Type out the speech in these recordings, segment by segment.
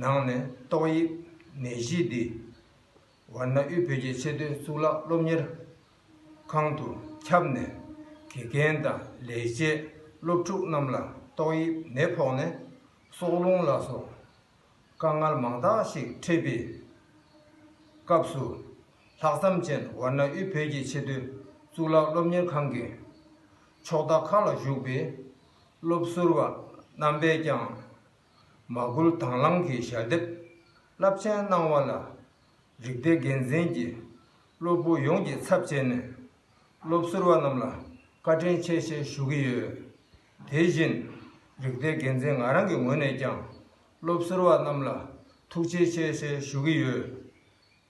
ནང་ནས་ཏོག་དབྱིབས་ནད་གཞི་འདི་ཝར་ན་ཨུས་བོད་ཀྱི་ཆེས་མཐོའི་གཙུག་ལག་སློབ་གཉེར་ཁང་དུ་ཁྱབ་ནས་དགེ་རྒན་དང་ལས་བྱེད་སློབ་ཕྲུག་རྣམས་ལ་ཏོག་དབྱིབས་ནད་ཕོག་ནས་སྲོག་རླུང་ལ་སོགས་དཀའ་ངལ་མང་དག་ཞིག་འཕྲད་པའི་སྐབས་སུ། ལྷག་བསམ་ཅན་ཝར་ན་ཨུས་བོད་ཀྱི་ཆེས་མཐོའི་གཙུག་ལག་སློབ་གཉེར་ཁང་གི་ཕྱོགས་མཐའ་ཁག་ལ་བཞུགས་པའི་སློབ་ཟུར་བ་རྣམ་པས་ཀྱང་མ་བསྐུལ་དྭངས་བླངས་ཀྱི་ཞལ་འདེབས། རླབས་ཆེན་གནང་བ་ལ། རིགས་སྡེ་འགན་འཛིན་གྱིས། སློབ་བུ་ཡོངས་ཀྱི་ཚབ་བྱས་ནས། སློབ་ཟུར་བ་རྣམས་ལ་བཀའ་དྲིན་ཆེ་ཞེས་ཞུ་གི་ཡོད། དེ་བཞིན། རིགས་སྡེ་འགན་འཛིན་ང་རང་གི་ངོས་ནས་ཀྱང། སློབ་ཟུར་བ་རྣམས་ལ་ཐུགས་རྗེ་ཆེ་ཞེས་ཞུ་གི་ཡོད།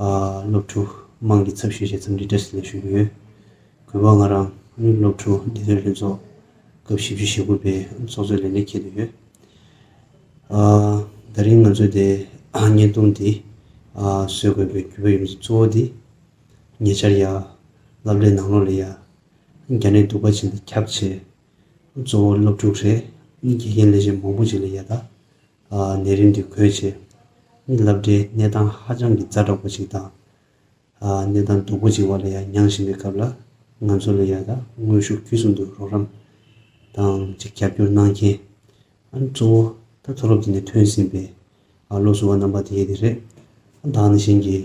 སློབ་ཕྲུག་དམངས་ཀྱི་ཚབ་ཞུས་བྱས་ཙམ་རིགས་གྲྭ་ཞིག་ལ་ཞུགས་ཀྱི་ཡོད། གུས་པ་ང་རང་ནི་སློབ་ཕྲུག་འདི་ཚོའི་ལྷན་ཚོགས་སྐབས་བཞི་བཅུ་ཞེ་དགུ་པའི་ཚོགས་གཙོའི་ལས་གནས་ཁྱེད་དུ་ཡོད། ད་རིང་ང་ཚོས་དེ་བརྙན་ཐུང་འདི་བཟོས་དགོས་པའི་གུས་པ་ཡོད་མེད་གཙོ་བོ་འདི་ཉེ་ཆར་ཡ་བླ་བླའི་ནང་ལོག་ལས་ཡ་རྒྱ་ནས་གདུག་པ་ཅན་དེ་ཁྱབ་ཆེད་གཙོ་བོ་སློབ་ཕྲུག་རེད་དགེ་རྒན་ལས་བྱེད་མང་པོ་ཅིག་ལས་ཡ་ད། ནད་རིམས་ཀྱི་གོས་བྱེད། མི་ལབ་འདྲའི་ནད་དང་ཧ་ཅང་གི་ཛ་དྲག་པོ་ཅིག་དང། ནད་དང་སྡུག་པོ་ཅིག་བ་ལ་ཡང་མྱང་བཞིན་པའི་སྐབས་ལ། ང་ཚོ་ལ་ཡ་དག་དངོས་ཤུགས་བརྒྱུད་གསུམ་དུ་རོགས་རམ་དང་ཅིག་རྒྱབ་སྐྱོར་གནང་མཁན། ཨ་ནི་གཙོ་བོ་ད་མཐོ་སློབ་དེ་ནས་ཐོན་ཟིན་པའི་བློ་གཟུ་བ་རྣམ་པ་དེ་དེ་རེད། ཨ་བདག་ནི་གཞན་གྱི་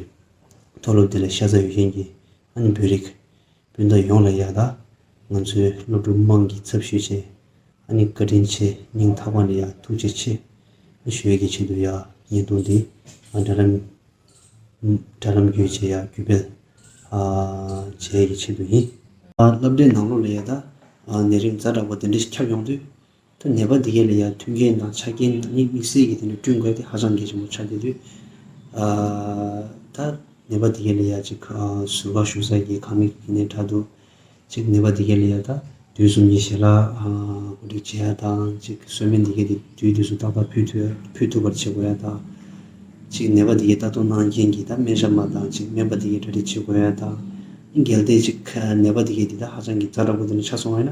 མཐོ་སློབ་དེ་ལ་ཤ་ཚ་ཡོད་མཁན་གྱི་ཨ་ནི་བོད་རིགས། སྤུན་ཟླ་ཡོངས་ལ་ཡག་ད། ང་ཚོའི་སློབ་ཕྲུག་དམངས་ཀྱི་ཚབ་ཞུས་བྱས། ཨ་ནི་བཀའ་དྲིན་ཆེ་སྙིང་ཐག་པ་ནས་ཡག་ཐུགས་རྗེ་ཆེ། ཨ་ཞོལ་གྱི་ཆེད་དུ་ཡག་བརྙན་ཐུང་འདི་ང་དྲ་ལམ་དྲ་ལམ་བརྒྱུད་བྱས་ཡག་བརྒྱུད་སྤེལ་བྱས་ཀྱི་ཆེད་དུ་ཡིན། བསླབ་གྲྭའི་ནང་སློབ་ལ་ཡག་ད། ནད་རིམས་རྩ་དྲག་པོ་འདི་འདྲ་ཞིག་ཁྱབ་ཡོང་དུས། ཐ་ནད་པ་འདི་གའི་ལས་ཀ་མཐུན་རྐྱེན་དང་ཆ་རྐྱེན་ནང་སྙིང་དམིགས་བསལ་གྱིས་དེ་འདྲ་བསྐྲུན་དགོས་ཏེ་ཧ་ཅང་གལ་ཆེན་པོ་ཆགས་བསྡད་དུས། ཐ་ནད་པ་འདི་གའི་ལས་ཀ་ཅིག་ཟུར་བཀག་ཞུགས་ས་ཀྱི་ཁང་མིག་གི་ནས་དྲ་འདུག་ཅིག་ནད་པ་འདི་གའི་ལས་ཀ་ད་དུས་གསུམ་གྱི་ཞལ་ལག་གོ་སྒྲིག་བྱེད་ཡ་དང་ཅིག་གསོལ་སྨན་འདི་གའི་དེ་དུས་དུས་སུ་ཏག་ཏག་ཕུལ་ཕུལ་ཐུབ་པར་བྱེད་དགོས་ཡ་དང་ཅིག་ནད་པ་འདི་གའི་ལྟ་རྟོག་གནང་མཁན་གྱིས་ད་སྨན་ཞབས་མ་དང་ཅིག་སྨན་པ་འདི་གའི་གྲ་སྒྲིག་བྱེད་དགོས་ཡ་དང། གལ་ཏེ་ཅིག་ནད་པ་འདི་གའི་འདི་ད་ཧ་ཅང་གི་རྩ་འདྲ་པོ་འདི་འདྲ་ཆགས་སོང་བས་ན།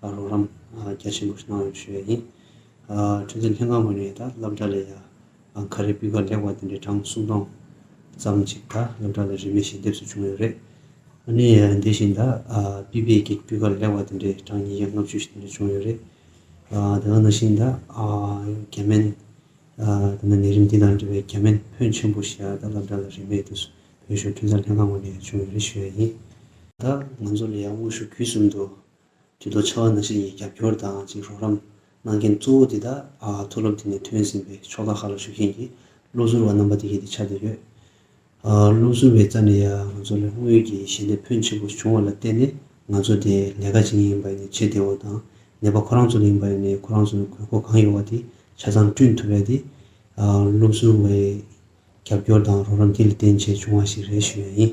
རོགས་རམ་རྒྱ་ཆེན་པོ་གནང་བའི་ཞུ་ཡ་ཡིན། ཁྲིམས་འཛིན་ལྷན་ཁང་ངོས་ནས་ད་སླབ་གྲྭ་ལས་ཡང་ག་རེ་སྤུས་ཀ་ལེགས་པ་དེ་འདྲའི་གྲངས་སུམ་སྟོང་ཙམ་ཅིག་ད་སླབ་གྲྭ་ལ་རིན་མེད་ཞིག་འདེབས་སུ་བྱུང་ཡོད་རེད། ཨ་ནི་དེ་བཞིན་ད་སྤུས་བེད་ཀྱི་སྤུས་ཀ་ལེགས་པ་དེ་འདྲའི་གྲངས་ཉིས་བརྒྱ་ལྔ་བཅུ་ཞིག་དེ་འདྲ་བྱུང་ཡོད་རེད། དེ་ང་ནང་བཞིན་ད་རྒྱ་སྨན། དེ་ནས་ནད་རིམས་འདི་དང་འབྲེལ་བའི་རྒྱ་སྨན་ཕོན་ཆེན་པོ་ཞིག་ཡང་ད་སླབ་གྲྭ་ལ་རིན་མེད་དུ་བོད་གཞུང་ཁྲིམས་འཛིན་ལྷན་ཁང་ངོས་ནས་བྱུང་ཡོད་རེད་ཞུ་ཡ་ཡིན། ད་ང་ཚོ་ལ་ཡང་དངོས་ཤུགས་བརྒྱུད་གསུམ་དུ་དུས་ཐོག་ཆར་བ་ནག་ཤེལ་གྱི་རྒྱབ་སྐྱོར་དང་གཅིག་རོགས་རམ་གནང་མཁན་གཙོ་བོ་དེ་དག་མཐོ་སློབ་དེ་ནས་ཐོན་ཟིན་པའི་ཕྱོགས་ཁག་ཁག་ལ་ཞུགས་མཁན་གྱི་སློབ་ཟུར་བ་རྣམ་པ་དེ་གཞི་དེ་ཆགས་བསྡད་ཡོད། སློབ་ཟུར་བའི་རྩ་ནས་ཡང་ང་ཚོ་ལ་དངུལ་གྱི་ཞལ་འདེབས་ཕོན་ཆེ་པོ་བྱུང་བ་ལ་བརྟེན་ནས་ང་ཚོ་དེ་ལས་ཀ་བྱེད་མཁན་ཡིན་པ་ནས་བྱེད་བདེ་བོ་དང་ནད་པ་ཁོ་རང་ཚོ་ལ་ཡིན་པ་ནས་ཁོ་རང་ཚོར་དགོས་མཁོ་གང་ཡོད་བ་དེ་ཆ་ཚང་བསྐྲུན་ཐུབ་པས་དེ་སློབ་ཟུར་བའི་རྒྱབ་སྐྱོར་དང་རོགས་རམ་དེ་ལས་བརྟེན་བྱས་བྱུང་བ་ཞིག་རེད་ཞུ་ཡ་ཡིན།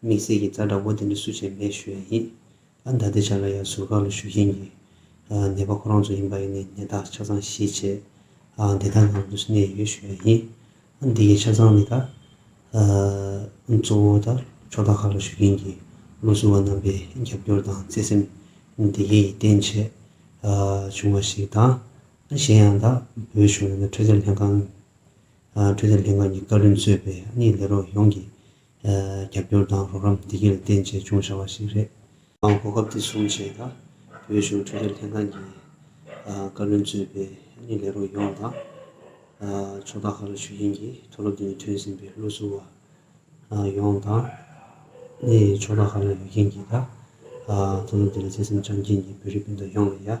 དམིགས་བསལ་གྱི་རྩ་འདྲ་བོ་དེ་ནི་སུ་བྱས་མེད་ཞུ་ཡ་ཡིན། ཨ་མདའ་དེ་བྱ་ལ་ཡང་ཟུར་བཀག་ལ་ཞུ་བཞིན་གྱི། ནད་པ་ཁོ་རང་ཚོ་ཡིན་པ་ཡིན་ནས་ནད་རྟགས་ཆ་ཚང་གཞིས་བྱེས། བདེ་ཐང་ཁང་དུ་གནས་ཡོད་ཞུ་ཡ་ཡིན། ཨ་འདི་གའི་ཆ་ཚང་ནི་ད། གཙོ་བོ་ད་ཕྱོགས་བདག་ཁག་ལ་ཞུ་མཁན་གྱི་བློ་གཟུ་བ་རྣམ་པའི་རྒྱབ་སྐྱོར་དང་བརྩེ་སེམས། འདི་གའི་ཡིད་བརྟན་ཆེད་བྱུང་བ་ཞིག་དང། གཞན་ཡང་ད་བོད་གཞུང་ཡང་ན་འཕྲོད་བསྟེན་ལྷན་ཁང། འཕྲོད་བསྟེན་ལྷན་ཁང་གི་བཀའ་བློན་གཙོས་པའི་ཨ་མྱེས་ལས་རོགས་ཡོངས་ཀྱིས། རྒྱབ་སྐྱོར་དང་རོགས་རམ་བདེ་སྐྱིད་ལ་བརྟེན་ཆེད་བྱུང་བྱ་བ་ཞིག་རེད། གོ་སྐབས་དེ་བཟུང་བྱས་ན་བོད་གཞུང་འཕྲོད་བསྟེན་ལྷན་ཁང་གི་བཀའ་བློན་གཙོས་པའི་ལས་རོགས་ཡོངས་དང། ཚོགས་བདག་ཁག་ལ་ཞུགས་མཁན་གྱི་མཐོ་སློབ་དེ་ནས་ཐོན་ཟིན་པའི་བློ་གཟུ་བ་ཡོངས་དང། ཕྱོགས་བདག་ཁག་ལ་ཡོད་མཁན་གྱི་མཐོ་སློབ་དེ་ལ་བརྩེ་སེམས་བཅངས་མཁན་གྱི་བོད་རིགས་སྤུན་ཟླ་ཡོངས་ལ་ཡང།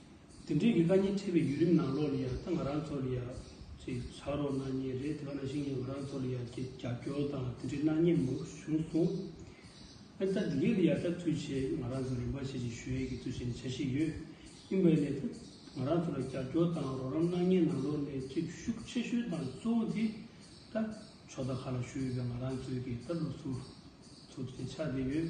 དེ་འབྲེལ་གྱི་བཀའ་རྙིང་འཁྲིད་པའི་བརྒྱུད་རིམ་ནང་ལོགས་ལ་ཡང་ད་ང་རང་ཚོ་ལ་ཡང་ཅིག་བྱ་རོགས་གནང་ངེས་རེད་དེ་བ་ན་ཞིང་ཡང་ང་རང་ཚོ་ལ་ཡང་ཅིག་རྒྱབ་སྐྱོར་དང་དེ་འབྲེལ་གནང་ངེས་མང་པོ་བྱུང་སོང། ཨ་ཙག་འདི་ག་ལ་ཡང་ད་ཚུལ་ཆེད་ང་རང་ཚོ་རིམ་པ་ཆེ་ཆེ་ཞུ་ཡས་ཀྱི་ཚུལ་ཆེད་ནས་བྱ་བཞིན་ཡོད། ཡིན་པས་ནས་ད་ང་རང་ཚོ་ལ་རྒྱབ་སྐྱོར་དང་རོགས་རམ་གནང་ངེས་ནང་ལོགས་ནས་ཅིག་ཤུགས་ཆེ་ཤོས་དང་གཙོ་བོ་དེ་ད་ཕྱོགས་ད་ག་ལ་ཞུ་ཡོད་པའི་ང་རང་ཚོའི་གི་ད་སློབ་ཕྲུག་ཚོ་དེ་ཆགས་བསྡད་ཡོད།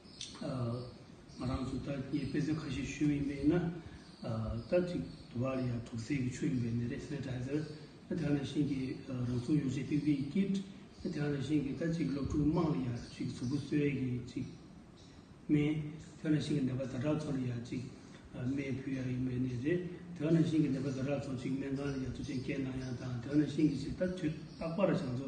ང་རང་ཚོ་ད་ངས་དཔེ་མཚོན་ཁ་ཤས་ཞུས་ཡིན་པས་ན། ད་ཅིག་དུ་བ་ལ་ཡང་དུག་སེལ་གྱི་ཆུ་ཡོད་པའི་ནད་རེད་ཟེར་དྲན་ཟེར། དེ་ཡང་ན་ཤིང་གི་རང་བྱུང་ཡོ་བྱད་ཏིག་ཏིག་གི་ཀིད། དེ་ཡང་ན་ཤིང་གི་ད་ཅིག་སློབ་ཕྲུག་དམངས་ལ་ཡང་ཅིག་གཟུགས་པོ་གསོལ་བའི་གི་ཅིག་སྨན། དེ་ཡང་ན་ཤིང་གི་ནད་པ་ད་དྲག་ཚོ་ལ་ཡང་ཅིག་སྨན་ཕུལ་ཡག་ཡིན་པའི་ནད་རེད། དེ་ཡང་ན་ཤིང་གི་ནད་པ་ད་དྲག་ཚོ་ཅིག་སྨན་ཁང་ལ་ཡང་ཚུ་ཆེན་བསྐྱལ་གནང་ཡག་དང་དེ་ཡང་ན་ཤིང་གི་ཅིག་ད་དུས་རྟག་པར་བྱང་ཚོ་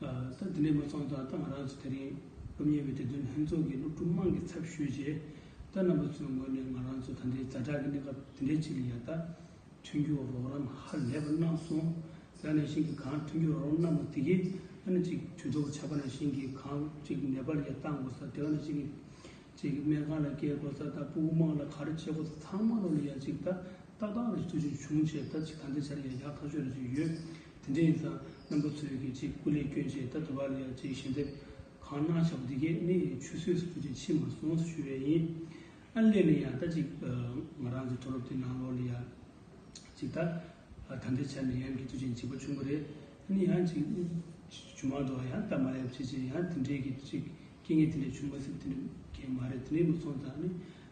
ད་དེ་ནས་མ་ཚང་ད་ལྟ་ང་རང་ཚོ་དེ་རིང་སློབ་གཉེར་བའི་དེ་དོན་ལྷན་ཚོགས་ཀྱི་སློབ་ཕྲུག་དམངས་ཀྱི་ཚབ་ཞུས་རྗེས་ད་རྣམ་པ་ཚོའི་ངོས་ནས་ང་རང་ཚོ་ད་འདྲའི་ཛ་དྲག་གི་གནས་སྐབས་དེ་འདྲའི་ཆེད་ལ་ཡར་ལྟ་མཐུན་འགྱུར་རོགས་རམ་ཧ་ལས་པ་གནང་སོང། ཡང་ནས་ཞིང་གི་གངས་མཐུན་འགྱུར་རོགས་རམ་གནང་བ་དེ་གས་ཨ་ནི་ཅིག་དུས་ཐོག་ཆག་པ་ན་ཞིང་གི་གངས་ཅིག་ནད་པར་ཡར་བཏང་དགོས་ས་དེ་ག་ནས་ཞིང་གི་ཅིག་སྨན་ཁང་ལ་བསྐྱལ་དགོས་ས་ད་སྤུ་བོ་དམངས་ལ་ག་རེ་བྱེད་དགོས་ས་ཚང་མ་སློབ་ལ་ཡར་ཅིག་ད་ཏག་ཏག་རེ་ཅིག་ཐུགས་ཆུང་ཆུང་བྱས་ད་ཅིག་ད་འདྲའི་ཆ་ལ་ཡར་ཡག་ཐག་ཆོད་རེ་ཅིག་ཡོད། དེ་འདྲའི་ཡིག་ཚགས་རྣམ་པ་ཚོས་གི་ཅིག་སྐུ་ལས་བསྐྱོན་བྱས་ད་དུ་བར་ལ་ཡང་ཅིག་ཞལ་འདེབས་གང་གནང་བྱ་བ་འདི་གའི་མི་ཡི་ཆུད་ཟོས་སུ་སྐུ་ཅིག་ཕྱིན་མ་སོང་ཞུ་བས་ཡིན། ཨ་སླེ་ནི་ཡང་ད་ཅིག་ང་རང་ཚོའི་མཐོ་སློབ་དེའི་ནང་ལོགས་ལ་ཡང་ཅིག་ད་ད་ལྟའི་ཆར་ནས་ཡང་གི་དུས་ཆེན་གཅིག་པ་བྱུང་བ་རེད། ཨ་ནི་ཡང་ཅིག་ཇུ་མང་དུའང་ཡང་ད་མ་ཡབ་བྱེད་ཅིག་ཡང་དེ་འདྲའི་གི་ཅིག་སྐྱེ་ངེས་དེ་འདྲའི་བྱུང་མ་སྲིད་དེ་འདྲའི་གས་མ་རེད་དེ་འདྲའི་མི་ཚོང་དང་ཨ་ནི།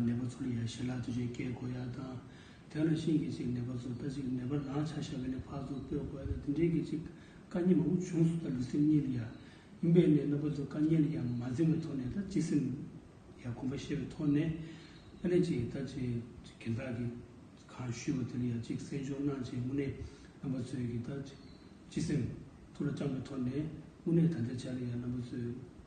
ནད་པ་ཚོར་ཡང་ཞེ་ལག་དུས་ཆེན་སྐྱེལ་དགོས་ཡ་དང། དེ་ལ་ཤིང་གིས་ཅིག་ནད་པ་ཚོར་ལྟ་ཅིག་ནད་པར་རང་ཆ་ཤ་བའི་ནས་ཕག་ཚོར་སྤོས་དགོས་ཡ་དང་དེ་འདྲའི་གིས་ཅིག་དཀའ་ཉེན་མང་པོ་བྱུང་སོང་ད་ལུས་སེམས་གཉིས་ལ་ཡ་ཡིན་པས་ནས་རྣམ་པ་ཚོར་དཀའ་ཉེན་ལ་ཡ་མ་འཛིན་པའི་ཐོག་ནས་ད་ཅིག་སེམས་ཡ་གོམས་པ་ཤེས་པའི་ཐོག་ནས་ཨ་ནེ་ཅིག་ད་ཅིག་གན་དག་གིས་གང་ཞུས་པ་དེ་ལ་ཡ་ཅིག་གསན་སྦྱོར་གནང་ཅིག་དངོས་གནས་རྣམ་པ་ཚོས་གིས་ད་ཅིག་སེམས་ཐུགས་ལ་བཅངས་པའི་ཐོག་ནས་དངོས་གནས་ད་ལྟའི་ཆ་ལ་ཡ་རྣམ་པ་ཚོས།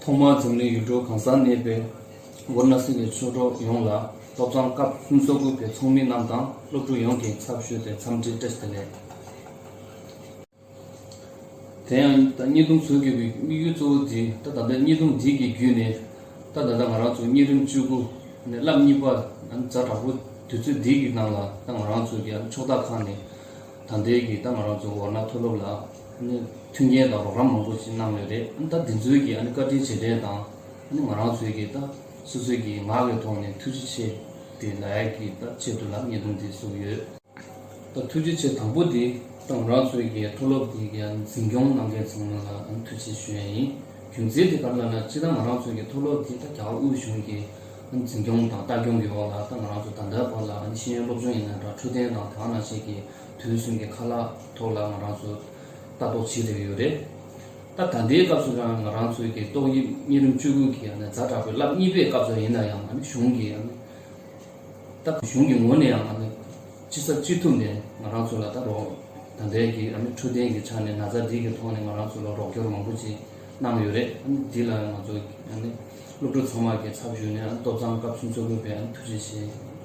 ཐོག་མར་འཛམ་གླིང་ཡུལ་གྲུ་གང་སར་གནས་པའི་ཝར་ན་སི་ལའི་ཆོས་གྲོགས་ཡོངས་ལ་སློབ་ཚང་སྐབས་གསུམ་སོ་དགུ་པའི་ཚོགས་མི་རྣམས་དང་སློབ་ཕྲུག་ཡོངས་ཀྱི་ཚབ་ཞུས་ཏེ་འཚམས་འདྲི་བཀྲལ་ཏེ་ལས་དེ་ཡང་ད་སྙན་རྡུང་བཟོ་དགོས་པའི་དམིགས་ཡུལ་གཙོ་བོ་འདི་ད་ད་ལྟ་སྙན་རྡུང་འདི་གི་བརྒྱུད་ནས་ད་ད་ལྟ་ང་རང་ཚོ་གཉིས་རིམ་བཅུ་དགུ་ནས་བསླབ་གཉིས་པ་ནམ་མཛའ་དྲག་པོ་དུས་ཚོད་འདི་གི་ནང་ལ་ད་ང་རང་ཚོ་གི་ཕྱོགས་བདག་ཁག་ནས་དང་འབྲེལ་གྱི་ད་ང་རང་ཚོ་འོ་ན་མཐོ་སློབ་ལ་མཐུན་རྐྱེན་དང་རོགས་རམ་མང་པོ་གནང་ཡོད་རེད་ད་དེ་ཚོའི་གི་བཀའ་དྲིན་ཆེ་དྲན་དང་ང་རང་ཚོའི་གི་ད་སོ་སོའི་གི་ངག་གི་ཐོག་ནས་ཐུགས་རྗེ་ཆེ་དེ་ལ་ཡག་གི་ད་ཆེད་དུ་ལ་བརྙན་ཐུང་དེ་བཟོ་ཡོད་ད་ཐུགས་རྗེ་ཆེ་དང་པོ་དེ་ད་ང་རང་ཚོའི་གི་མཐོ་སློབ་དེ་གི་འཛིན་སྐྱོང་གནང་མཁན་ཚང་མ་ལ་ཐུགས་རྗེ་ཆེ་ཞུ་ཡ་ཡིན་རྒྱུ་མཚན་དེ་ག་ལ་ན་སྤྱི་ད་ང་རང་ཚོའི་གི་མཐོ་སློབ་དེ་ད་རྒྱ་གར་དབུས་གཞུང་གི་འཛིན་སྐྱོང་དང་ལྟ་སྐྱོང་གི་འོག་ལ་ང་རང་ཚོ་ད་ལྟའི་བར་ལ་ནི་ཤེས་ཡོན་སློབ་སྦྱོང་ཡིན་ན་འདྲ་འཕྲོད་བསྟེན་དང་དག་སྣང་བཅས་ཀྱི་དུས་གསུམ་གྱི་ཁ་ལག་ཐོག་ལ་ང་རང་ཚོ་ལྟ་རྟོག་བྱེད་བསྡད་ཡོད་རེད། ད་ད་ལྟའི་སྐབས་སུ་ཡང་ང་རང་ཚོའི་གི་ཏོག་དབྱིབས་གཉན་རིམས་བཅུ་དགུ་གི་ཡང་ན་རྫ་དྲག་པོའི་རླབས་གཉིས་པའི་སྐབས་སུ་ཡིན་ན་ཡང་ང་ནི་གཞུང་གི་ཡང་ན་ད་གཞུང་གི་ངོས་ནས་ཡང་ང་ནི་ཅི་བསབ་ཅི་ཐུབ་ནས་ང་རང་ཚོ་ལ་ད་རོགས་ད་ལྟའི་གི་ཡང་ན་འཕྲོད་བསྟེན་གི་ཆ་ནས་ན་ཚ་འདི་གི་ཐོག་ནས་ང་རང་ཚོ་ལ་རོགས་སྐྱོར་མང་པོ་ཅིག་གནང་ཡོད་རེད། འདི་ལ་ང་ཚོ་ཡང་ན། སློབ་ཕྲུག་ཚང་མ་གི་ཚབ་ཞུས་ནས་སློབ་ཚང་སྐབས་གསུམ་གཙོ་དགོས་པའི་ཐུགས་རྗེ་ཆེ་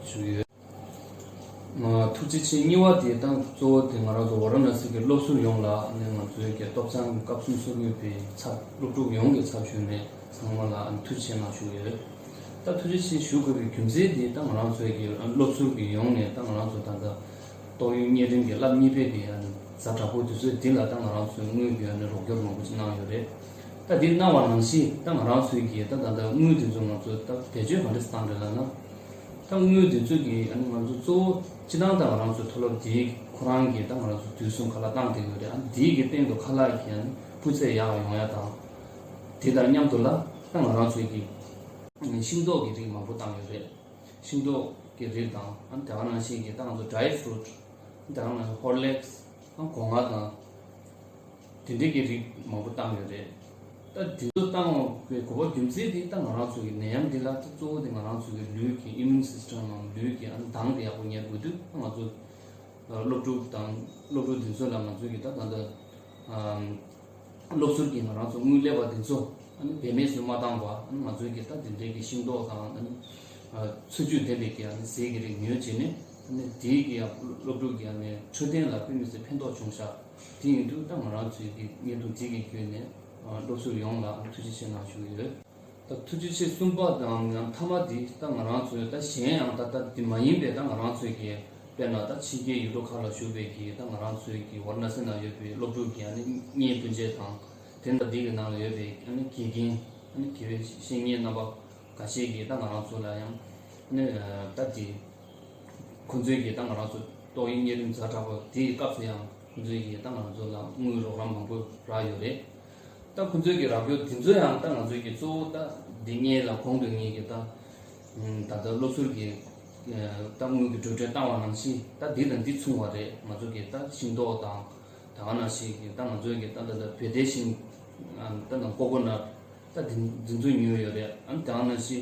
ཞུ་ཡོད། ཐུགས་རྗེ་ཆེ་གཉིས་བ་དེ་དང་གཙོ་བོ་དེ་ང་རང་ཚོ་བ་ར་ན་སི་གི་སློབ་ཟུར་ཡོངས་ལ་ནས་ང་ཚོའི་གི་སྟོབས་ཚང་སྐབས་གསུམ་གཙོ་དགོས་པའི་ཚབ་སློབ་ཕྲུག་ཡོངས་གི་ཚབ་ཞུས་ནས་ཚང་མ་ལ་ཐུགས་རྗེ་ཆེ་ངང་ཞུ་ཡོད། ད་ཐུགས་རྗེ་ཆེ་ཞུ་དགོས་པའི་རྒྱུ་མཚན་དེ་ད་ང་རང་ཚོའི་གི་སློབ་ཟུར་གི་ཡོངས་ནས་ད་ང་རང་ཚོ་ད་ལྟ་ཏོག་དབྱིན་གཉན་རིམ་གི་བསླབ་གཉིས་པའི་གི་གཟའ་དྲག་པོ་དེ་ཚོའི་དེ་ལ་ད་ང་རང་ཚོའི་དངུལ་གི་རོགས་སྐྱོར་མང་པོ་ཅིག་གནང་ཡོད་རེད། ད་འདིར་སྣང་བ་རང་བཞིན་ད་ང་རང་ཚོའི་གི་ད་ད་ལྟ་དངུལ་དེ་ཚོ་ང་ཚོ་ད་བེད་སྤྱོད་གང་འདྲ་སྟངས་རེད་ལ་ན། ད་དངུལ་དེ་ཚོ་གི་ང་ཚོ་གཙོ་བོ་ཅི་སྟངས་ད་ང་རང་ཚོའི་མཐོ་སློབ་དེའི་གི་ཁོ་རང་གི་ད་ང་རང་ཚོ་དུས་གསུམ་ག་ལ་བཏང་དེ་ཡོད་རེད་ཨ་འདིའི་གི་སྟེང་དུ་ཁ་ལག་གི་ཨ་ནི་སྤུས་ཚད་ཡག་ཡོང་ཡ་དང། དེ་དང་མཉམ་དུ་ལ་ད་ང་རང་ཚོའི་གི་ཨ་ནི་ཤིང་ཏོག་གི་རིགས་མང་པོ་བཏང་ཡོད་རེད། ཤིང་ཏོག་གི་རིགས་དང་ཨ་ནི་དེ་ག་རང་བཞིན་གི་ད་ང་ཚོ Dry Fruit ཨ་ནི་དེ་ག་རང་བཞིན Horlicks ཨ་ནི་གོ་ལྔ་དང། དེ་འབྲེལ་གྱི་རིགས་མང་པོ་བཏང་ཡོད་རེད། ད་དུས་ཚོད་བཏང་བའི་གོ་བ་རྒྱུ་མཚན་དེ་ད་ང་རང་ཚོ་གི་ནད་ཡམས་འདི་ལ་ད་གཙོ་བོ་དེ་ང་རང་ཚོ་གི་ལུས་ཀྱི Immune System ངམ་ལུས་ཀྱི་མདངས་དེ་ཡག་པོ་གཉེར་དགོས་དུས་ད་ང་ཚོ་སློབ་ཕྲུག་དང་སློབ་ཕྲུག་དེ་ཚོ་ལ་ང་ཚོ་གི་ད་ད་ལྟ་སློབ་ཟུར་གྱི་ང་རང་ཚོ་དངུལ་ལས་པ་དེ་ཚོ་བེད་མེད་སུ་མ་བཏང་བར་ང་ཚོ་གི་ད་དེ་འབྲེལ་གྱི་ཤིང་ཏོག་དང་འཚོ་བཅུད་ལྡན་པའི་གི་ཟས་ཀྱི་རིགས་ཉོས་བྱས་ནས་དེའི་གི་སློབ་ཕྲུག་གི་འཕྲོད་བསྟེན་ལ་དཔེ་མི་སྲིད་ཕན་ཐོགས་བྱུང་ཤག། དེ་ཡུན་དུ་ད་ང་རང་ཚོའི་དགེ་རྒན་དུ་བརྩི་གི་ཡོད་ནས་སློབ་ཟུར་ཡོངས་ལ་ཐུགས་རྗེ་ཆེ་གནང་བཞུགས་ཡོད། ད་ཐུགས་རྗེ་ཆེ་གསུམ་པ་དང་ཡང་མཐའ་མ་དེ་ད་ང་རང་ཚོའི་ད་གཞན་ཡང་ད་ལྟ་དེ་མ་ཡིན་པའི་ད་ང་རང་ཚོའི་དགེ་དཔེར་ན་ད་ཕྱི་རྒྱལ་ཡུལ་གྲོགས་ཁག་ལ་བཞུགས་པའི་དགེ་ད་ང་རང་ཚོའི་དགེ་བར་ན་སེ་ན་ཡོད་པའི་སློབ་ཕྲུག་གི་གཉེན་སྤུན་མཇལ་དང་དེ་ད་དེ་གི་ནང་ལ་ཡོད་པའི་དགེ་རྒན་དགེ་བའི་བཤེས་གཉེན་རྣམ་པ་འགའ་ཤས་ཀྱིས་ད་ང་རང་ཚོ་ལ་ཡང་ད་དེ། ཁོ་ཚོའི་ཡི་དྭགས་ང་རང་ཚོས་ཏོག་དབྱིབས་གཉན་རིམས་རྫ་དྲག་པོ་དེའི་སྐབས་སུ་ཡང་ཁོ་ཚོའི་ཡི་དྭགས་ང་ཚོ་ལ་དངུལ་རོགས་རམ་མང་པོ་རག་ཡོད་རེད། ད་ཁོ་ཚོའི་གི་རག་སྐྱོར་དེ་ཚོ་ཡང་ད་ང་ཚོའི་གི་གཙོ་བོ་ད་འདི་གཉིས་ལ་གོང་དུ་ངས་གི་ད་ད་ལྟ་སློབ་ཟུར་གི་ད་དངུལ་གི་འགྲོ་གྲོན་བཏང་བ་ནང་བཞིན་ད་འདི་དང་འདི་མཚུངས་བ་རེད་ང་ཚོ་གི་ད་ཤིང་ཏོག་དང་ད་ག་ན་ཞིག་གི་ད་ང་ཚོའི་གི་ད་ད་ལྟ་བོད་དའི་ཤིང་ད་ན་ཀོ་ཀོ་ནར་ད་འདི་འདི་ཚོ་ཉོས་ཡོད་རེད་ཨང་ད་ག་ན་ཞིག་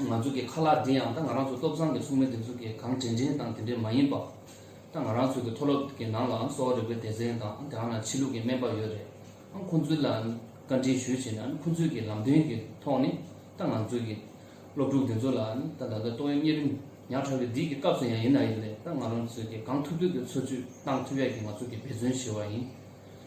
ང་ཚོ་གི་ཁ་ལག་འདི་ཡང་ད་ང་རང་ཚོ་སྟོབས་བཟང་གི་ཚོགས་མི་འདི་ཚོ་གི་གང་དྲན་དྲན་དང་དེ་འདྲས་མ་ཡིན་པ། ད་ང་རང་ཚོ་གི་མཐོ་སློབ་གི་ནང་ལའང་གསོ་བ་རིག་པའི་སྡེ་ཚན་དང་དེའང་ནང་ཕྱི་ལུགས་གི་སྨན་པ་ཡོད་རེད། ཨང་ཁོང་ཚོའི་ལ་བཀའ་དྲིན་ཞུ་བྱས་ན་ཁོང་ཚོའི་གི་ལམ་སྟོན་གི་ཐོག་ནས་ད་ང་ཚོ་གི་སློབ་ཕྲུག་འདི་ཚོ་ལ་ད་ད་ལྟ་ཏོག་དབྱིབས་གཉན་རིམས་ཉག་ཕྲ་བའི་འདི་གི་སྐབས་སུ་ཡང་ཡིན་ན་ཡོད་རེད་ད་ང་རང་ཚོ་གི་གང་ཐུབ་ཐུབ་གི་འཚོ་བཅུད་གཏང་ཐུབ་ཡག་གི་ང་ཚོ་གི་འབད་བརྩོན་བྱེད་བ་ཡིན།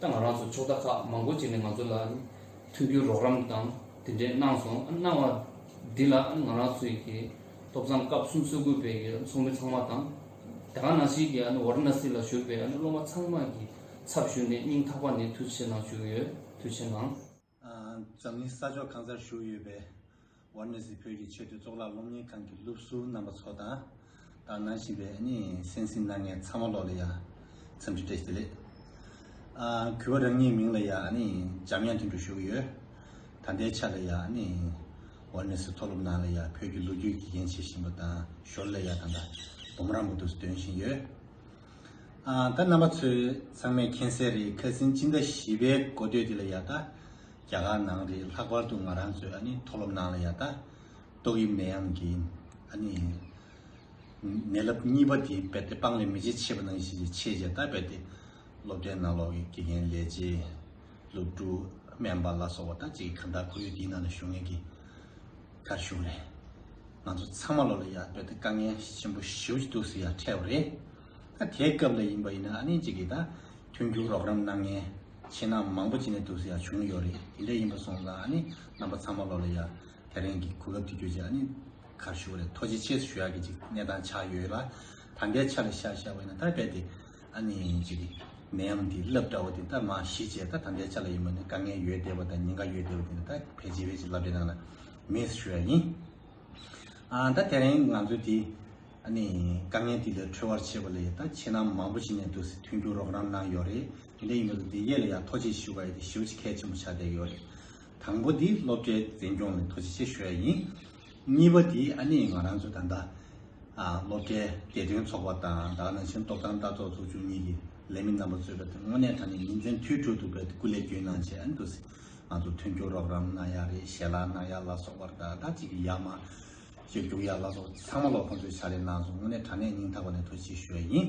ད་ང་རང་ཚོ་ཕྱོགས་མཐའ་ཁག་མང་པོ་ཅིག་ནས་ང་ཚོ་ལ་མཐུན་འགྱུར་རོགས་རམ་དང་དེ་འདྲའི་གནང་སོང་གནང་བ་འདི་ལ་ང་རང་ཚོའི་གི་ཐོབ་ཚང་སྐབས་གསུམ་གསོལ་དགོས་པའི་གི་ཚོགས་མི་ཚང་མ་དང། དེ་ག་ནང་བཞིན་གི་ཝར་ན་སི་ལ་ཞུགས་པའི་སློབ་མ་ཚང་མ་གི་ཚབ་ཞུས་ནས་སྙིང་ཐག་པ་ནས་མཐུ་ཆེ་གནང་བཅུག་ཡོད་མཐུ་ཆེ་གནང། འཛམ་གླིང་ས་ཕྱོགས་གང་སར་བཞུགས་ཡོད་པའི་ཝར་ནེ་སི་བོད་ཀྱི་ཆེད་དུ་གཙུག་ལག་སློབ་གཉེར་ཁང་གི་སློབ་ཟུར་རྣམ་པ་ཚོ་དང། དག་སྣང་ཞིག་པའི་སེམས་གསིང་གནང་མཁན་ཚང་མ་ལོག་ལ་ཡ། འཚམས་འདྲི་བཀྲ་ཤིས་བདེ་ལེགས། གུས་པ་རང་ཉིད་མིང་ལ་ཡ། འཇམ་དབྱངས་དོན་གྲུབ་བཞུགས་ཡོད། ད་ལྟའི་ཆ་ལ་ཡ། ཝར་ནེ་སི་མཐོ་སློབ་ནང་ལ་ཡ་བོད་ཀྱི་ལོ་རྒྱུས་ཀྱི་འགན་བྱེད་བཞིན་པ་དང་ཞོར་ལ་ཡ་ད་ལྟ་བུམ་རམ་པོ་ཏུ་སྡོད་བཞིན་ཡོད། ད་རྣམ་པ་ཚོས་ཚང་མས་མཁྱེན་གསལ་རེད་ཁ་སིན་སྤྱི་ཟླ་བཞི་པའི་འགོ་སྟོད་དེ་ལ་ཡག་ད། རྒྱ་གར་ནང་རེད་ལྷག་པར་དུ་ང་རང་ཚོས་ཨ་ནི་མཐོ་སློབ་ནང་ལ་ཡག་ད། ཏོག་དབྱིབས་ནད་ཡམས་ཀྱི་ཨ་ནི། ནད་རླབས་གཉིས་པ་དེ་རྦད་དེ་སྤང་ལེ་མི་བྱེད་ཆེས་པ་ནང་བཞིན་གྱི་ཆེས་བྱས་ད་རྦད་དེ། སློབ་གྲྭའི་ནང་ལོག་གི་དགེ་རྒན་ལས་བྱེད། སློབ་ཕྲུག། སྨན་པ་ལ་སོགས་པ་ད་ཅིག་གི་གང་དག་ཁོར་ཡུག་འདིའི་ནང་ལ་ཞུགས་ངེས་ཀྱི། ཁར་ཞུགས་ནས་ང་ཚོ་ཚང་མ་བློ་ལ་ཡག་པོའི་དཀའ་ངལ་ཆེན་པོ་ཞེའུ་ཅི་འདུག་ཟེར་ཡག་ཁྲལ་བ་རེད། ད་དེའི་སྐབས་ལ་ཡིན་པ་ཡིན་ན་ཨ་ནེ་གཅིག་གིས་ད་མཐུན་འགྱུར་རོགས་རམ་གནང་མཁན་ཆེ་ནག་མང་པོ་ཅི་ནས་འདུག་ཟེར་ཡག་བྱུང་ཡོད་རེད་དེ་འདྲས་ཡིན་པ་སོང་ཙང་ཨ་ནེ་རྣམ་པ་ཚང་མ་བློ་ལ་ཡག་དེ་རིང་གི་གོ་སྐབས་འདི་བརྒྱུད་ཅིག་ཨ་ནེ་ཁར་ཞུགས་རེད་ཐོ་ཇེ་ཆེ་སུ་ཞུ་ཡག་གི་ཅིག་གནས་སྟངས་ཆགས་ཡོད་ལ་ད་འདའི་ཆ་ལ་ཤ་ཤ་བ་ཡིན་ན་ད་རྦད་དེ། ཨ་ནི་ཅིག། ནད་ཡམས་འདི་རླབས་འདྲ་བོ་འདི་ད་མ་ཞི་བྱས་ད་དམ་བཅའ་ཆ་ལ་ཡིན་མོད་ནི་དཀའ་ངལ་ཡོད་བསྡད་པ་དང་ཉེན་ཁ་ཡོད་བསྡད་པ་དེ་ནི་ད་ཕལ་ཆེ་བས་ཅི་ལབ་བྲེད་ནང་ལ་མེད་ཟེར་ཤོད་ཡ་ཡིན། ཨ་ད་དེ་རིང་ང་ཚོ་འདི། ཨ་ནི། དཀའ་ངལ་འདི་ལས་གྲོལ་བར་བྱེད་པ་ལས་ད་ཁྱེད་རྣམས་མང་པོ་ཞིག་ནས་འདུག་སེ་མཐུན་འགྱུར་རོགས་རམ་གནང་ཡོད་རེད་དེ་འདྲ་ཡིན་པ་དང་དེ་ཡས་ལ་ཡང་ཐོ་ཆེ་ཞུ་ག་ཡས་དེ་ཞུ་ཆེ་གལ་ཆེན་པོ་ཆགས་བསྡད་ཡོད་རེད། དང་པོ་འདི་སློབ་གྲྭའི་འཛིན་སྐྱོང་ནས་ཐོ་ཆེ་ཆེ་ཞུ་ཡ་ཡིན། གཉིས་པ་དེ་ཨ་ནེ་ང་རང་ཚོ་ད་ལྟ་སློབ་གྲྭའི་དགེ་ཐོན་ཚོགས་པ་དང་དྭགས་ནང་བཞིན་སྟོབས་དང་ལྟ་རྟོག་ཚོགས་ཆུང་གཉིས་ཀྱི་ལས་མི་རྣམ་པ་གཙོས་པའི་ཐོན་དངོས་གནས་ད་ནི་ཉིན་མཚན་དུས་དྲུག་ཏུ་བོད་སྐུ་ལས་རྒྱུན་གནང་བྱས་ཡང་འདུག་སྲིད་ང་ཚོ་མཐུན་འགྱུར་རོགས་རམ་གནང་ཡག་རེད་ཞལ་ལག་གནང་ཡག་ལ་སོགས་པར་ད་ལྟ་ཅིག་ཡག་མ་ཅིག་རྒྱུགས་ཡག་ལ་སོགས་ཚང་མ་ལོ་ཁོང་ཚོས་ཕྱག་ལས་གནང་སོང་དངོས་གནས་དྲང་གནས་སྙིང་ཐག་པ་ནས་ཐུགས་རྗེ་ཞུ་བ་ཡིན།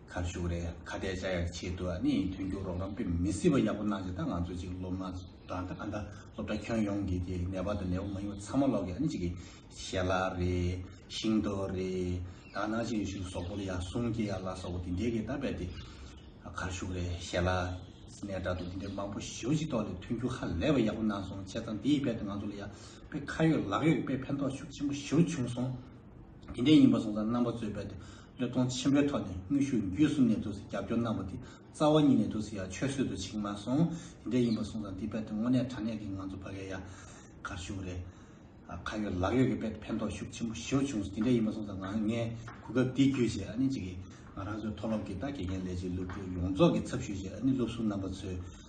ཁ་ཤུགས་རེད་ཁ་གཏད་བཅའ་ཡག་ཆེད་དུ་ནི་མཐུན་འགྱུར་རོགས་རམ་དཔེ་མི་སྲིད་པ་ཡག་པོ་གནང་རྗེས་ད་ང་ཚོ་ཅིག་སློབ་མ་དང་ད་ཁ་འདའ་སློབ་གྲྭ་ཁྱོན་ཡོངས་ཀྱི་དེ་ནད་པ་དང་ནད་པ་མ་ཡིན་པ་ཚང་མ་སློག་གི་ཨ་ནི་ཅིག་གི་ཞལ་ལག་རེད་ཤིང་ཏོག་རེད་ད་གནང་ཆེད་ཡོད་ཤུགས་ཟོག་པོར་ཡང་སུང་སྐྱེ་ཡག་ལ་སོགས་པ་དེ་འདྲའི་གི་ད་རྦད་དེ་ཁར་ཤུགས་རེད་ཞལ་ལག་སྣེ་དྲ་ཐུག་དེ་འདྲའི་མང་པོ་ཞོ་ཅིག་ཏོག་ལས་མཐུན་འགྱུར་ཧ་ལས་པ་ཡག་པོ་གནང་སོང་བྱས་ཙང་དེ་ཡི་རྦད་དེ་ང་ཚོ་ལ་ཡང་དཔེ་ཁ་ཡོད་ལག་ཡོད་ཀྱི་དཔེ་ཕན་ཐོགས་ཤུགས་ཆེན་པོ་ཞོ་བྱུང་སོང་དེ་འདྲའི་ཡིན་པ་སོང་ཙང་རྣམ་པ་ཚོས་རྦད་དེ་གཡོ་གཏོང་ཆེན་པོའི་ཐོག་ནས་དངོས་ཤུགས་བརྒྱུད་གསུམ་ནས་དུས་སུ་རྒྱབ་སྐྱོར་གནང་བ་དེ་རྩ་བ་ཉིད་ནས་དུས་སུ་ཡང་ཆོད་སྲོལ་དུ་ཕྱིན་མ་སོང། དེ་འདྲ་ཡིན་པར་སོང་ཙང་འདི་རྦད་དེ་དངོས་གནས་དྲ་གནས་ཀྱི་ང་ཚོ་ཕ་གའི་ཡ་གར་ཞུགས་རེད། ཁ་ཡོད་ལག་ཡོད་ཀྱི་རྦད་དེ་ཕན་ཐོགས་ཤུགས་ཆེན་པོ་ཞེའུ་བྱུང་སོང་དེ་འདྲ་ཡིན་པར་སོང་ཙང་ང་ངའི་གོ་སྐབས་འདི་བརྒྱུད་བཞེས་ཨ་ནི་གཅིག་གིས་ང་རང་ཚོའི་མཐོ་སློབ་ཀྱི་ད་དགེ་རྒན་ལས་བྱེད་སློབ་ཕྲུག་ཡོངས་རྫོགས་ཀྱི་ཚབ་ཞུས་བཞེས་ཨ་ནི་སློབ་ཟུར་རྣམ་པ་ཚོས་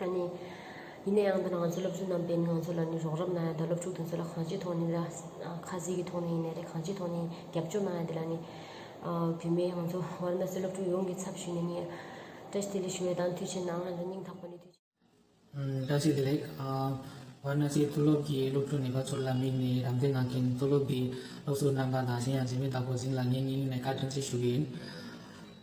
ཡིན་ནའང་འདི་ནི་ང་ཚོའི་སློབ་ཕྲུག་རྣམས་པས་ང་ཚོ་ལ་ནི་རོགས་རམ་གནང་ཡོད་དོ་སློབ་ཕྲུག་དེ་ཚོ་ལ་གང་ཅིའི་ཐོག་ནས་ལ་ཁ་གཟིགས་ཀྱི་ཐོག་ནས་ཡིན་ནའི་རེད་གང་ཅིའི་ཐོག་ནས་རྒྱབ་སྐྱོར་གནང་ཡོད་དེ་ལ་ནི་བུད་མེད་ང་ཚོ་ཝར་མ་སི་སློབ་ཕྲུག་ཡོངས་ཀྱི་ཚབ་ཞུས་ནས་ནི་བཀྲ་ཤིས་བདེ་ལེགས་ཞུ་བའི་དང་དུས་ཆེན་ནང་ང་ཚོ་སྙིང་ཐག་པ་ནས་དུས་ཆེན། བཀྲ་ཤིས་བདེ་ལེགས། ཝར་མ་སི་མཐོ་སློབ་ཀྱི་སློབ་ཕྲུག་ནད་པ་ཚོར་ལ་དམིགས་ནས་རམ་འདེགས་གནང་མཁན་མཐོ་སློབ་ཀྱི་སློབ་ཟུར་རྣམ་པ་དང་གཞན་ཡང་འཛིན་མི་དག་གོ་ཟིན་ལ་ངས་སྙིང་ནས་བཀའ་དྲིན་ཆེ་ཞུ་གི་ཡིན།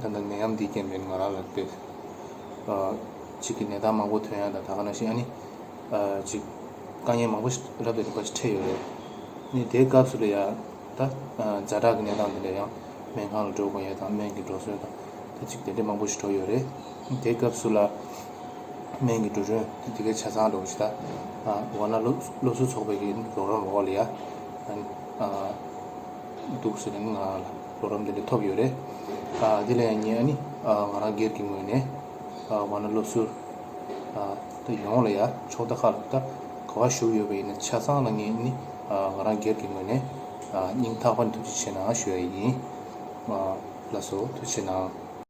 ད་ནི་ནད་ཡམས་འདིའི་རྐྱེན་པས་ང་རང་ལ་དཔེ་གཅིག་གི་ནད་རྟགས་མང་པོ་ཐོན་ཡ་ད་ད་ག་ན་ཞིག་ཨ་ནི། གཅིག་དཀའ་ངལ་མང་པོ་ཞིག་རབ་ཏུ་རིག་པ་ཞིག་འཕྲད་ཡོད་རེད། ནི་དེའི་སྐབས་སུ་ལ་ཡ་ད་བཛྲ་དྲག་གི་ནད་རྟགས་འདི་འདྲ་ཡང་སྨན་ཁང་ལ་འགྲོ་དགོས་ཡས་དང་སྨན་གྱི་འགྲོ་སྲོལ་དང་ད་ཅིག་དེ་འདྲས་མང་པོ་ཞིག་གྲོལ་ཡོད་རེད། དེའི་སྐབས་སུ་ལ་སྨན་གྱི་འགྲོ་གྲོན་དེ་གའི་ཆ་ཚང་འགྲོ་གཞི་ད་འོ་ན་སློབ་གསོ་ཚོགས་པའི་གི་རོགས་རམ་འོག་ལ་ཡ་ཨ་ནི། འདུག་ཟེར་ནས་ནི་ང་རང་ལ། རོགས་རམ་དེ་འདྲ་ཐོབ་ཡོད་རེད། དེ་ལས་ངས་ནི་ང་རང་སྒེར་གྱི་ངོས་ནས་བ་ན་སློབ་གསོར་ད་ཡོང་ལ་ཡ་ཕྱོགས་ད་ཁག་ལ་ད་ག་བ་ཞུགས་ཡོད་པ་ཡིན་ན་ཆ་ཚང་ལ་ངས་ནི་ང་རང་སྒེར་གྱི་ངོས་ནས་སྙིང་ཐག་པ་ནས་ཐུགས་རྗེ་ཆེ་ནའང་ཞུ་ཡ་ཡིན། ལགས་སོ་ཐུགས་ཆེ་ནའང།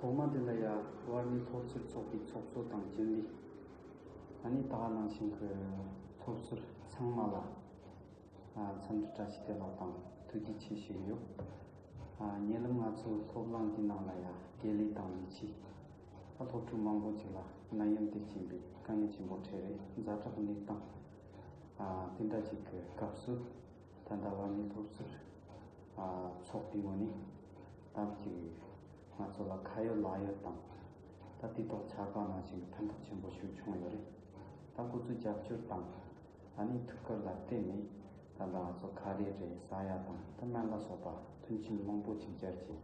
ཐོག་མ་དེ་ལ་ཡ་བར་ནི་ཚོགས་ཕྱིར་ཚོགས་པའི་ཚོགས་གཙོ་དང་སྤྱི་འདུས་ད་ནི་དག་སྣང་ཞིང་གི་ཚོགས་ཕྱིར་ཚང་མ་ལ་འཚམས་འདྲི་བཀྲ་ཤིས་བདེ་ལགས་དང་ཐུགས་རྗེ་ཆེ་ཞུ་ཡི་ཡོད། ཉེ་ལམ་ང་ཚོའི་སློབ་གླང་གི་ནང་ལ་ཡ་དགེ་ལེགས་དང་ཡིད་ཆེས་སློབ་ཕྲུག་མང་པོ་ཅིག་ལ་ནད་ཡམས་དེ་སྐྱེན་པའི་དཀའ་ངལ་ཆེན་པོ་འཕྲད་རེས་མཛའ་གྲགས་གནས་སྟངས་དེ་འདྲ་ཅིག་གི་སྐབས་སུ། ད་ལྟ་བར་ནི་ཐུགས་རྗེར་ཚོགས་བསྡུས་པ་ནི་བདག་གཅིག་ཡིན། ང་ཚོ་ལ་ཁ་ཡོད་ལག་ཡོད་དང། ད་དུས་ཐོག་ཆར་པ་ནང་བཞིན་ཕན་ཐོགས་ཆེན་པོ་ཞུ་བྱུང་ཡོད་རེད། ད་སྐུ་ཚུགས་རྒྱབ་སྐྱོར་དང། ད་ནི་ཐུགས་ཁུར་ལ་བརྟེན་ནས་ད་ལྟ་ང་ཚོ་ཁ་རེ་རེ་ས་ཡ་དང་ཐ་མལ་ལ་སོགས་པ་མཐུན་ཕྱིན་བློང་པོ་ཆིག་སྦྱར་གྱིས།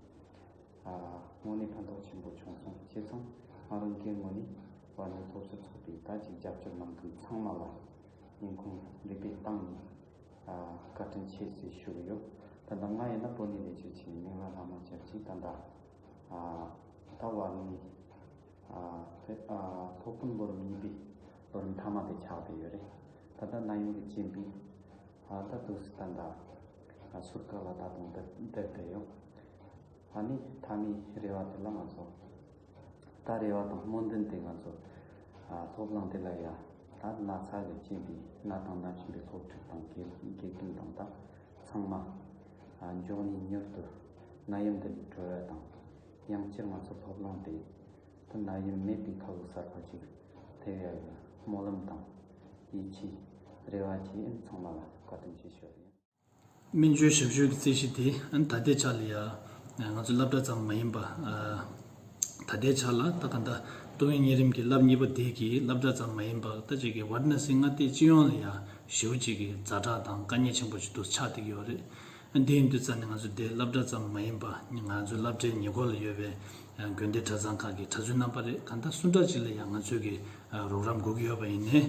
དངོས་གནས་ཕན་ཐོགས་ཆེན་པོ་བྱུང་སོང་བྱས་ཙང་ང་རང་སྒེར་ངོས་ནས་བར་ནི་ཐུགས་རྗེར་ཚོགས་པའི་བདག་གཅིག་རྒྱབ་སྐྱོར་གནང་མཁན་ཚང་མ་ལ་ཉིན་གུང་རེ་བས་བཏང་ནས། བཀའ་དྲིན་ཆེ་ཞེས་ཞུ་གི་ཡོད། ད་ལྟ་ང་ཡིན་ན་པོ་ནི་ལས་བྱེད་ཆེན་མོ་མིང་ལ་ལྷག་མ་བྱ་ཅི་ད་འདའ། ད་བར་ནི་ཕོགས་ཕུན་ལོ་རིམ་གཉིས་པའི་ལོ་རིམ་མཐའ་མ་དེ་ཆགས་བསྡད་ཡོད་རེད། ད་ལྟ་གནའ་ཡོང་གི་སྤྱི་འབིན་ད་འདུག་སི་ད་འདའ། ཟུར་བཀག་ལ་ད་དུང་བསྡད་བསྡད་ཡོད། ད་ནི་མཐའ་མའི་རེ་བ་དེ་ལ་ང་ཚོ། ད་རེ་བ་དང་སྨོན་འདུན་དེ་ང་ཚོ་ཚོགས་ལངས་དེ་ལ་ཡ་ད་ན་ཚ་གི་ཅན་པའི་ན་དང་ན་ཆེན་པའི་སློབ་ཕྲུག་དང་དགེ་རྒན་དང་ད་ཚང་མ་མགྱོགས་ནས་མྱུར་དུ་ན་ཡུམ་དེ་ལས་གྲོལ་བ་དང་ཡང་སྤྱིར་ང་ཚོ་ཚོགས་ལངས་དེ་དུ་ན་ཡུམ་མེད་པའི་ཁ་ལོ་གསར་པ་ཅིག་ཕེབས་ཡ་ཡོད་སྨོན་ལམ་དང་ཡིད་ཆེས་རེ་བ་བྱེད་ཨེ་ཚང་མ་ལ་བཀའ་དྲིན་ཆེ་ཞུ་རྒྱུ་ཡིན། སྨན་བཅོས་ཞབས་ཞུའི་རྩིས་གཞི་དེ་ད་ལྟའི་ཆ་ལ་ཡང་ང་ཚོའི་སློབ་གྲྭ་ཙམ་མ་ཡིན་པ། ད་ལྟའི་ཆ་ལ་ད་ག་ཟླ་ཏུང་ཡོན་གཉན་རིམ་གྱི་བསླབ་གཉིས་པ་དེ་གི་སློབ་གྲྭ་ཙམ་མ་ཡིན་པར་ད་ཅིག་གི་བར་ན་སིང་ང་སྟེ་སྤྱི་ཡོངས་ལ་ཡང་ཞེའུ་གཅིག་གི་རྫ་དྲག་དང་དཀའ་ཉེན་ཆེན་པོ་ཞིག་ཏུ་ཆགས་བསྡད་ཀྱི་ཡོད་རེད། དེ་ཡིན་དུས་རྩ་ནས་ང་ཚོ་འདི་སློབ་གྲྭ་ཙམ་མ་ཡིན་པ་ང་ཚོའི་སློབ་གྲྭའི་ཉེ་འཁོར་ལ་ཡོད་པའི་དགོན་སྡེ་གྲྭ་ཚང་ཁག་གི་གྲྭ་བཙུན་རྣམ་པ་རེད་ག་ཟླ་སུ་འདྲ་ཅིག་ལ་ཡང་ང་ཚོའི་གི་རོགས་རམ་སྒུག་གི་ཡོད་པ་ཡིན་ནས།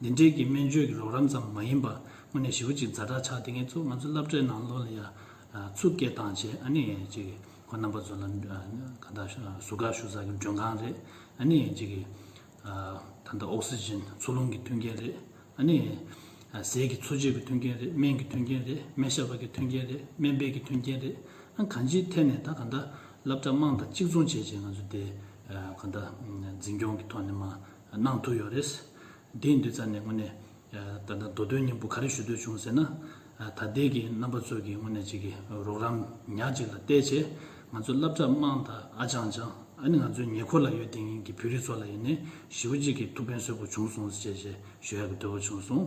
འདི་འདྲས་ཀྱི་སྨན་བཅོས་ཀྱི་རོགས་རམ་ཙམ་མ་ཡིན་པར་དངོས་གནས་ཞི་བ་གཅིག་མཛའ་གྲགས་ཆགས་དེ་ངས་ཚོ་ང་ཚོ་བསླབ་གྲྭའི་ནང་ལོག་ལ་ཡ་ཚུགས་སྐད་བཏང་བྱས་ཨ་ནི་ཅིག་ཁོ་རྣམ་པ་ཚོ་ལ་གང་དག་ཟུར་བཀག་ཞུ་ས་ཀྱི་མགྲོན་ཁང་རེད་ཨ་ནི་ཅིག་ད་ལྟ་ཨོག་སི་ཇིན་འཚོ་རླུང་གི་མཐུན་རྐྱེན་རེད་ཨ་ནི་ཟས་ཀྱི་འཚོ་བྱེད་ཀྱི་མཐུན་རྐྱེན་རེད་སྨན་གྱི་མཐུན་རྐྱེན་རེད་སྨན་ཞབས་པ་ཀྱི་མཐུན་རྐྱེན་རེད་སྨན་པས་ཀྱི་མཐུན་རྐྱེན་རེད་ཨང་གང་ཅིའི་ཐད་ནས་ད་གང་དག་བསླབ་གྲྭ་དམངས་དང་གཅིག་མཚུངས་བྱས་བྱས་ང་ཚོ་དེ་གང་དག་འཛིན་སྐྱོང་གི་ཐོག་ནས་མ་གནང་ཐུབ་ཡོད་རེད། དེའི་འདི་ཙམ་ནས་དངོས་ནས་ད་ལྟ་མདོ་དོན་སྙིང་པོ་ག་རེ་ཞུ་འདོད་བྱུང་ཟེར་ན། ད་ལྟའི་གི་རྣམ་པ་ཚོས་གི་དངོས་ནས་ཅིག་གི་རོགས་རམ་ཉག་གཅིག་ལ་བལྟས་རྗེས་ང་ཚོ་བསླབ་གྲྭ་དམངས་དང་ཨ་ཅང་ཅང་ཨ་ནི་ང་ཚོའི་ཉེ་འཁོར་ལ་ཡོད་དེ་ཡིན་གི་བོད་རིགས་ཚོ་ལ་ཡིན་ནས་ཞི་བོ་གཅིག་གི་ཐུགས་ཕན་སོས་པོ་བྱུང་སོང་ཟེར་ཞེས་ཞུ་ཡག་གི་འདོད་པོ་བྱུང་སོང།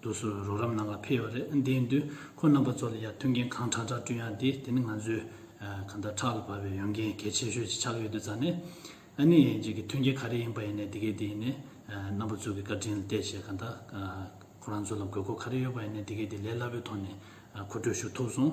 དུ་སུ་རོགས་རམ་གནང་ལ་ཕེབས་ཡོད་རེད་དེ་ཡིན་དུས་ཁོ་རྣམ་པ་ཚོ་ལ་ཡར་མཐུན་རྐྱེན་གང་དྲག་དྲག་བསྐྲུན་ཡག་དེ་དེ་ནི་ང་ཚོའི་གང་ལྟར་ཕྲག་ལ་བབས་པའི་ཡོན་རྒན་གལ་ཆེ་ཤོས་ཅིག་ཆགས་ཀྱི་ཡོད་དུས་རྩ་ནས་ཨ་ནི་ཡིན་གཅིག་གི་མཐུན་རྐྱེན་ག་རེ་ཡིན་པ་ཡིན་ནའི་དེ་གས་དེ་ཡིན་ནའི་རྣམ་པ་ཚོ་གི་བཀའ་དྲིན་ལ་བལྟས་བྱས་གང་ལྟར་ཁོ་རང་ཚོ་ལ་དགོས་མཁོ་ག་རེ་ཡོད་པ་ཡིན་ནའི་དེ་གས་དེ་ལས་སླ་པོའི་ཐོག་ནས་མཁོ་སྤྲོད་ཞུ་ཐུབ་སོང།